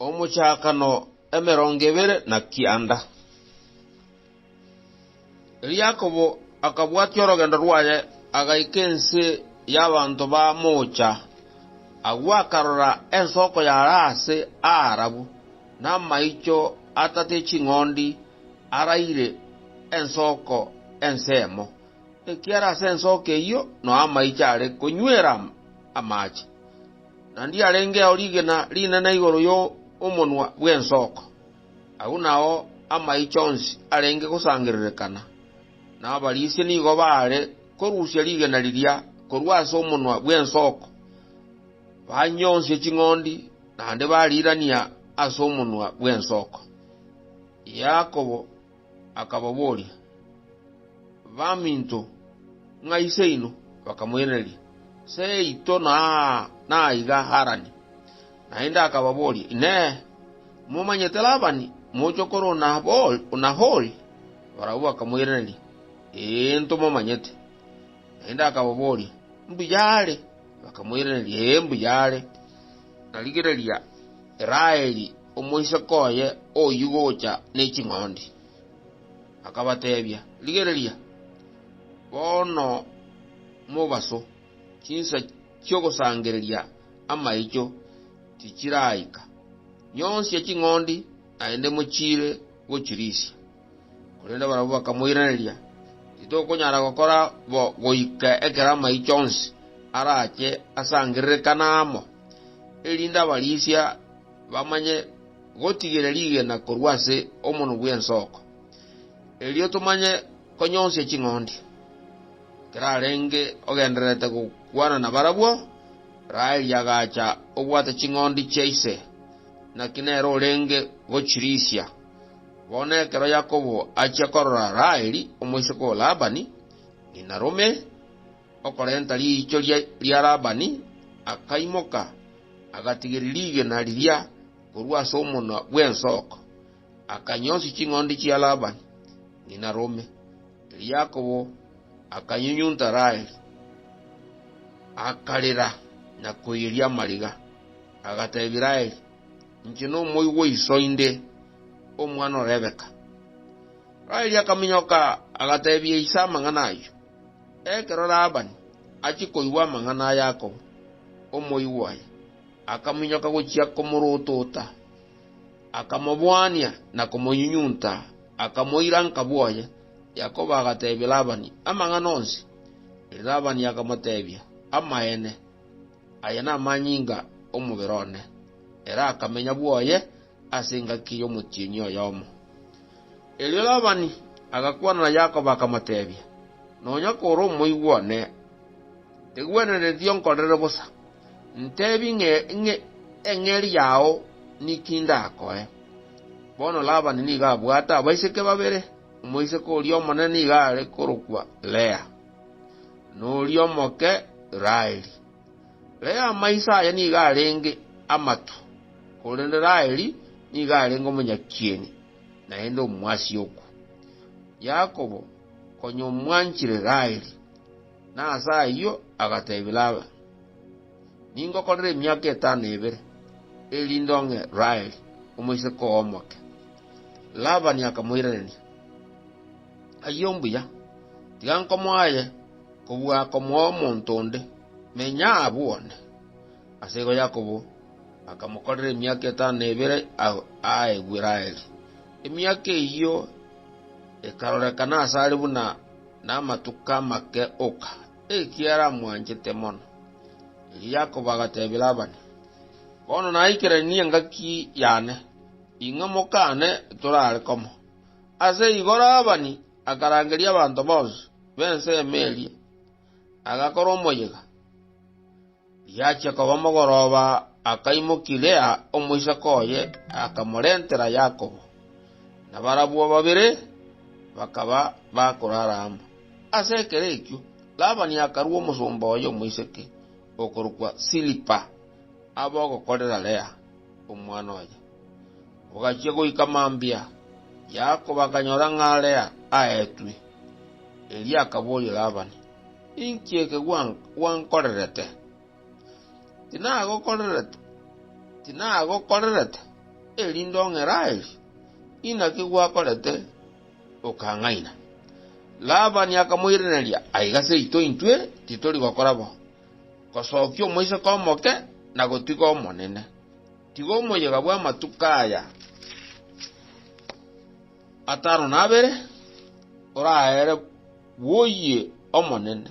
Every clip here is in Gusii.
Omochakano emerongo ebere na kianda. Erio Yakobo akabwatia orogendo rwaye, agaika ense y'abanto ba moocha. Agwo akarora ensoko yare aase aarabu, na amaicho atate ching'ondi araire ensoko ensemo, Ekiara ase ensooka eyio noa amaicho are konywera amache, na ndiarengeo rigena rinene igoro y'omonwa bw'ensoko. Agwo nao amaicho onsi arenge gosangererekana, na abarisia nigo baare korusia rigena riria korwa ase omonwa bw'ensoko, banyonsie ching'ondi, naende bariirania ase omonwa bw'ensoko. Yakobo. akababoria, Baminto, ng'ai seino? Bakamoiraneria, Seito naiga Harani. Naende akababoria, Inee! Momanyete Labani, mochokoro o Nahori? Barabwo bakamoiraneria, Ee, ntomomanyete. Naende akababoria, Mbuya are? Bakamoiraneria, Ee, mbuya are. Narigereria Raeli. omoiseke oye oyio gocha ne ching'ondi. Akabateebia, Rigereria, bono mobaso, chinsa chi'ogosangereria amaicho tichiraika. Nyonsia ching'ondi, naende mochiire gochirisia. Korende barabwo bakamoiraneria, Titokonyara gokora bo goika ekero amaicho onsi arache asangererekane amo, erinde abarisia bamanye gotigera rigena korwa ase omonwa bw'ensoko, erio tomanye konyonsia ching'ondi. Ekero arenge ogendererete gokwana nabarabwo, Raheli agacha obwate ching'ondi chia ise, naki nere orenge gochirisia. Bono ekero Yakobo achia korora Raheli, omoiseke o Labani, ng'ina rome, okorenta riichoria ria Labani, akaimoka, agatigeria rigena riria korwa ase omonwa bw'ensoko, akanyonsia ching'ondi chia Labani, ng'ina rome. Erio Yakobo akanyunyunta Raheli, akarera na koiyeria amariga, agateebia Raheli, Inche nomoigwa o iso inde, omwana o Rebeka. Raheli akaminyoka, agateebia ise amang'ana ayio. Ekero Labani achia koigwa amang'ana a Yakobo, omoigwa oye, akaminyoka gochia komorotota, akamobwania na komonyunyunta, akamoira nka bwoye. Yakobo agateebia Labani amang'ana onsi. Labani akamoteebia, Amaene, Aya namanyinga 'omobere one, ere akamenya bwoye ase engaki y'omotienyi oyomo. Erio Labani agakwana na Yakobo akamoteebia, Nonya kore omoigwa one, tigwenereti onkorere bosa. Ntebi ng'e ng'e eng'eri yao niki ndakoe. Bono Labani nigo abwate abaiseke babere, omoiseke oria omonene nigo are korokwa Lea. noria omoke Raheli. Lea amaiso aye nigo arenge amatu, korende Raheli nigo arenge omonyakieni, naende omwasiokwa. Yakobo, konya omwanchire Raheli, na ase ayio agateebia Laban, Ningokorere emiaka etano ebere, erinde ong'e Raheli, omoiseke oo omoke. Laban akamoiraneria. Ayio mbuya, tiga nkomoe aye kobua komoa omonto onde, menya abwo one. Ase igo Yakobo akamokorera emiaka etano na ebere agwo aa Eguraeli. Emiaka eyio ekarorekana ase are buna namatuko amake oka, ekiagera aramwanchete mono. Erio Yakobo agatebia Labani, Bono naikeranie engaki yane, ing'we mokane torare komo. Ase igo Labani akarangeria abanto bonsi b'ensemo eria, agakora omoyega. Riachia koba mogoroba akaimokia Lea omoiseke oye, akamorentera Yakobo, na barabwo babere bakaba bakorara amo. Ase ekero ekio Labani akarua omosomba oye omoiseke, okorokwa Silipa, abogokorera Lea, omwana oye. Ogachia goika mambia, Yakobo akanyora ng'a Lea aetwe. Erio akaboria Labani, Inki eke gwankorerete? Tinagokorerete erinde ong'e Raheli? Inaki gwakorete okang'aina? Labani akamoiraneria, Aiga seito intwe titori gokora bo, gosokia omoiseke omoke na gotiga omonene. Tiga omoyega bw'amatuko aya atano na abere oraere bw'oyio omonene,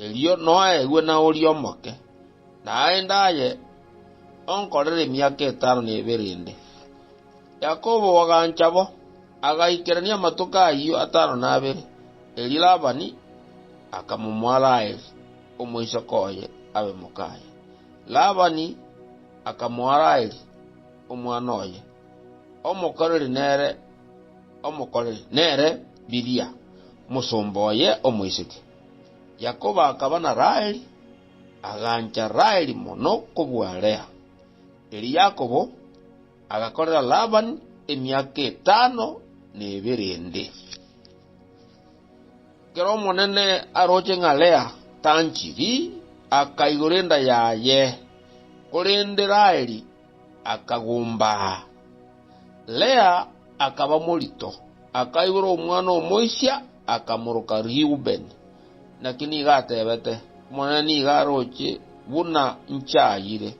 erio noegwe na oria omoke, naende aye onkorere emiaka etano na ebere ende. Yakobo bagancha bo, agaikerania amatuko ayio atano na abere, erio Labani akamomoa Raheli, omoiseke oye, abe mokaye. Labani akamoa Raheli, omwana oye omokoreri nere omokoreri, nere Bilia, omosomba oye omoiseke. Yakobo akaba na Raheli, agancha Raheli mono kobua Lea. Erio Yakobo agakorera Labani emiaka etano na ebere ende. Ker'Omonene aroche ng'a Lea tanchiri, akaigora enda yaye, korende Raheli akagumbaa. Lea akaba morito, akaigora omwana omoisia, akamoroka Reubeni. Naki nigo atebete, Omonene nigo aroche buna nchayire,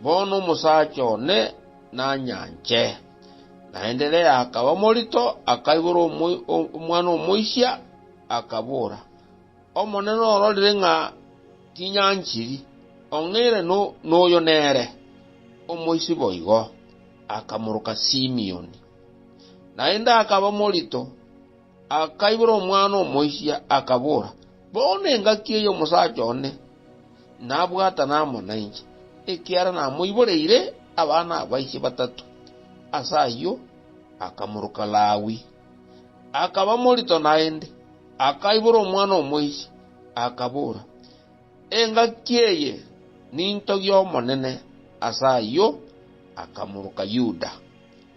bono omosacha one nanyanche. Naenderea akaba morito, akaibora omwana omoisia, akabora, Omonene ororire ng'a tinyanchiri, ong'eire noyo nere, omoisia boigo, akamoroka Simioni. Naende akaba morito, Akaibora omwana omoisia, akabora, Bono engaki eye omosacha one nabwatana amo nainche, ekiagera namoiboreire abana abaiche batato. Ase ayio akamoroka Lawi, akaba morito naende. Akaibora omwana omoisia, akabora, Engaki eye ninto y'Omonene. Ase ayio akamoroka Yuda.